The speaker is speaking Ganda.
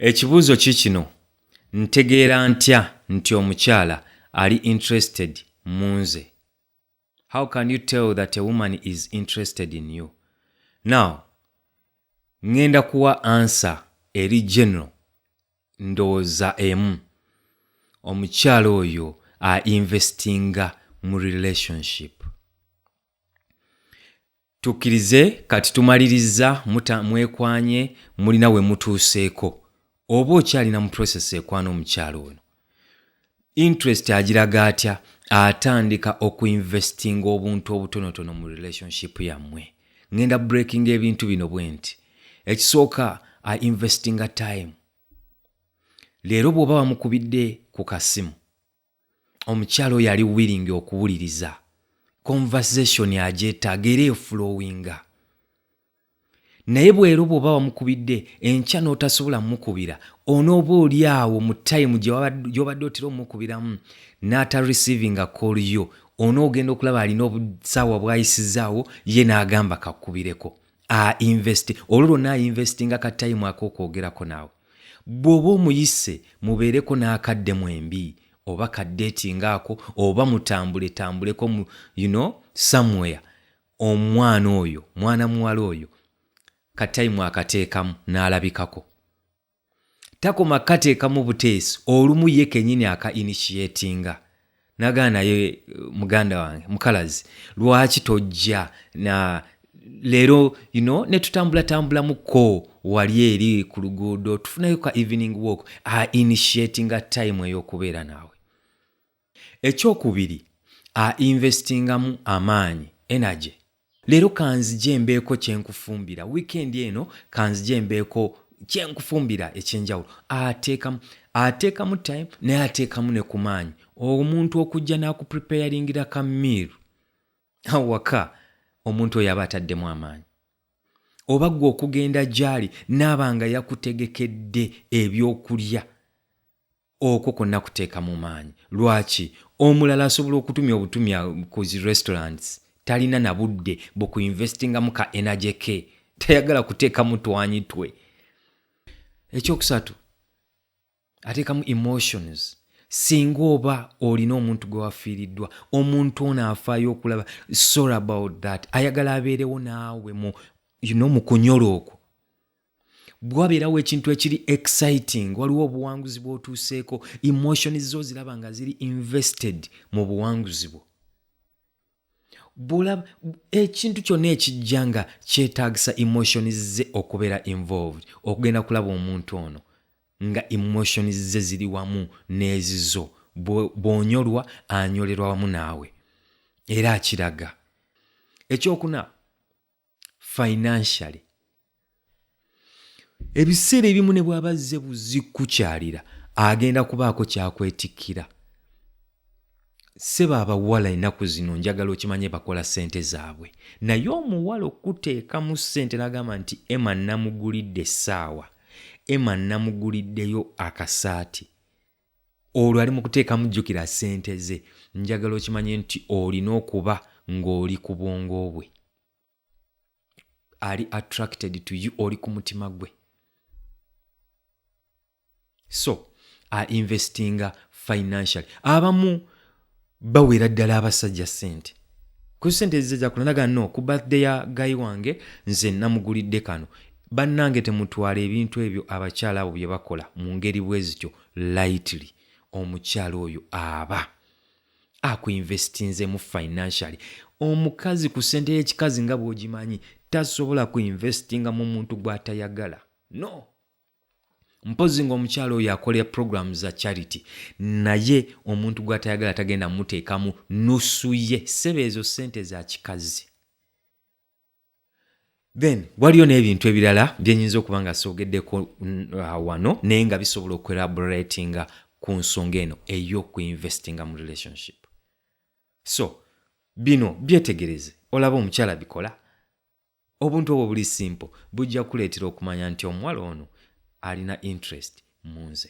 Ekibuuzo kikino, ntegeera ntya nti omukyala ali interested munze? How can you tell that a woman is interested in you? Now, ngenda kuwa answer eri general ndowooza emu. Omukyala oyo a investinga mu relationship. tukkirize kati tumalirizza muta mwekwanye mulina we mutuuseeko oba okyalina mu process ekwana omukyalo ono interest agiraga atya atandika okuinvestinga obuntu obutonotono mu relationship yammwe ngenda breaking ebintu bino bwe nti ekisooka a investinga time leero bw'oba bamukubidde ku kasimu omukyala oyo ali willing okuwuliriza conversation agyetaaga era efulowinga naye bwero bwoba wamukubidde enkya n'otasobola mukubira onooba oli awo mu tayimu gyobadde otera omukubiramu n'ata receivinga call yo onoogenda okulaba alina obusaawa bwayisizaawo ye n'agamba kakubireko ainvesti olwo lwonna ainvestinga ka tayimu ak'okwogerako naawe Bw'oba omuyise mubeereko n'akadde mwembi oba ka date nga ako oba mutambuletambuleko mu you know somewhere omwana oyo mwana muwala oyo ka time akateekamu n'alabikako. Takoma kukateekamu buteesi olumu ye kenyini aka initiatinga. nagaa naye eh, muganda wange mukalazi lwaki tojja na leero you know, netutambulatambulamukko wali eri ku luguudo tufunayo ka evening walk a initiatinga time ey'okubeera naawe ekyokubiri a investingamu amaanyi energy Leero kanzije mbeeko kye nkufumbira wiikendi eno, kanzije mbeeko kye nkufumbira eky'enjawulo. Ateekamu ateekamu time naye ateekamu ne ku maanyi. Omuntu okujja n'akupreparingira ka meal awaka, omuntu oyo aba ataddemu amaanyi. Oba ggwe okugenda gy'ali n'aba nga yakutegekedde ebyokulya. Okwo konna kuteekamu maanyi. Lwaki? Omulala asobola okutumya obutumya ku zi restaurants, talina na budde bu ku investingamu ka energy ke. Tayagala kuteekamu twanyi twe. Eky'okusatu, ateekamu emotions. Singa oba olina omuntu gwe wafiiriddwa, omuntu ono afaayo okulaba sorry about that. Ayagala abeerewo naawe mu, you know, mu kunyolwa okwo. bwabeerawo ekintu ekiri exciting waliwo obuwanguzi bwotuuseeko emotion zo ziraba nga ziri invested mu buwanguzi bwo bulaba ekintu kyonna ekijja nga kyetaagisa emotions ze okubeera involved okugenda kulaba omuntu ono nga emotions ze ziri wamu n'ezizo bw'onyolwa anyolerwa wamu naawe era akiraga ekyokuna financially ebiseera ebimu ne bwaba azze buzikukyalira agenda kubaako kyakwetikkira sebo abawala enaku zino njagala okimanye bakola sente zaabwe naye omuwala okuteekamu sente nagamba nti ema namugulidde essaawa ema namuguliddeyo akasaati olwo ali mu kuteekamu jjukira ssente ze njagala okimanye nti olina okuba ng'oli ku bwongo bwe ali attracted to you oli ku mutima gwe so ainvestinga financially abamu bawera ddala abasajja sente ku sente ezize zakula naga no ku birthday ya gayi wange nze namugulidde kano bannange temutwala ebintu ebyo abakyala abo bye bakola mu ngeri bwe zityo lightly omukyala oyo aba akuinvestinzemu financially omukazi ku sente y'ekikazi nga bw'ogimanyi tasobola kuinvestinga mu muntu gw'atayagala no mpozi ngaomukyalo oyo akolera program za charity naye omuntu gwatayagala tagenda muteekamu nusu ye sebe ezo sente za kikazi then waliyo n'ebintu ebirala byenyinza okuba nga soogeddeko uh, wano naye nga bisobola okuelaboratinga ku nsonga eno eyokuinvestinga mu relationship so bino byetegereze olaba omukyala bikola Obuntu obwo buli simple bujja kukuleetera okumanya nti omuwala ono alina interest mu nze.